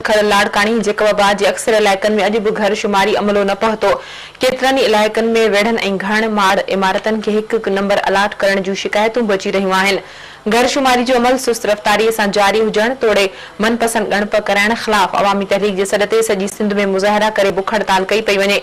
کڙ لاڙڪاڻي، جيڪب آباد جي اڪثر علائقن ۾ اڄ به گهر شماري عملو نه پهتو، ڪيترن ئي علائقن ۾ ويڙهن ۽ گهڻ ماڙ عمارتن کي هڪ هڪ نمبر الاٽ ڪرڻ جون شڪايتون به اچي رهيون آهن، گهر شماري جو عمل سست رفتاري سان جاري هجڻ توڙي من پسند ڳڻپ ڪرائڻ خلاف عوامي تحريڪ جي سڏ تي سڄي سنڌ ۾ مظاهرا ڪري بک هڙتال ڪئي پئي وڃي،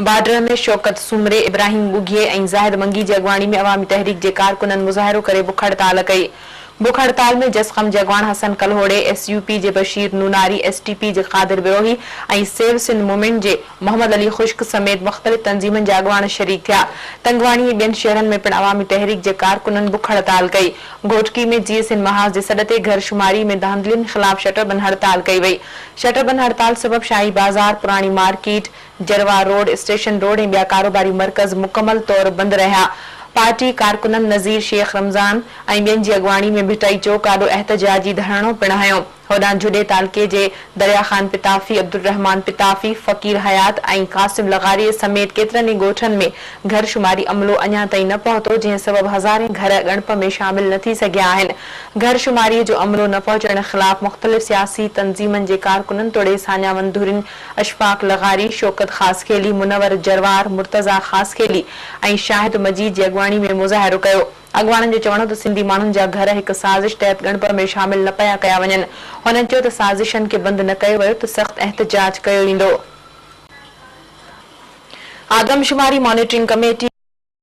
بارڊر ۾ شوڪت سومري، ابراهيم ڳوگهي ۽ زاهد منگي جي اڳواڻي ۾ عوامي تحريڪ جي ڪارڪنن مظاهرو ڪري بک هڙتال ڪئي. بک هڙتال ۾ جسقم جي اڳواڻ حسن ڪلهوڙي، ايس يو پي جي Bashir Nonari, S T P جي قادر بروهي ۽ سيو سنڌ مومينٽ جي محمد علي خشڪ سميت مختلف تنظيمن جا اڳواڻ شريڪ ٿيا. تنگواڻي ۽ ٻين شهرن ۾ پڻ عوامي تحريڪ جي ڪارڪنن بک هڙتال ڪئي. گهوٽڪي ۾ جي ايس اين محاذ جي سڏ تي گهر شماري ۾ ڌانڌلين خلاف شٽر بند هڙتال ڪئي وئي. شٽر بند هڙتال سبب شاهي بازار، پراڻي market, Jarwar road, station road ۽ ٻيا ڪاروباري مرڪز مڪمل طور بند رهيا. پارٽي ڪارڪنن نظير شيخ رمضان ۽ ٻين جي اڳواڻي ۾ ڀٽائي چوڪ آڏو احتجاجي ڌرڻو پڻ هنيو. هوڏانهن جهڏي تعلقي جي دريا خان پتافي، عبدالرحمان پتافي، فقير حيات ۽ قاسم لغاري سميت ڪيترن ئي ڳوٺن ۾ گهر شماري عملو اڃا تائين نه پهتو جنهن سبب هزارين گهر ڳڻپ ۾ شامل نه ٿي سگهيا آهن. گهر شماري جو عملو نه پهچڻ خلاف مختلف سياسي تنظيمن جي ڪارڪنن توڙي ساڃاهه وند ڌرين اشفاق لغاري، شوڪت خاصخيلي، منور جروار، مرتضيٰ خاصخيلي ۽ شاهد مجيد جي اڳواڻي ۾ مظاهرو ڪيو. اڳواڻن جو چوڻ هو ته سنڌي ماڻهن جا گهر هڪ سازش تحت ڳڻپ ۾ شامل نه پيا ڪيا وڃن. هنن چيو ته سازشن کي بند نه ڪيو ويو ته سخت احتجاج ڪيو ويندو. آدمشماري مانيٽرنگ ڪميٽي،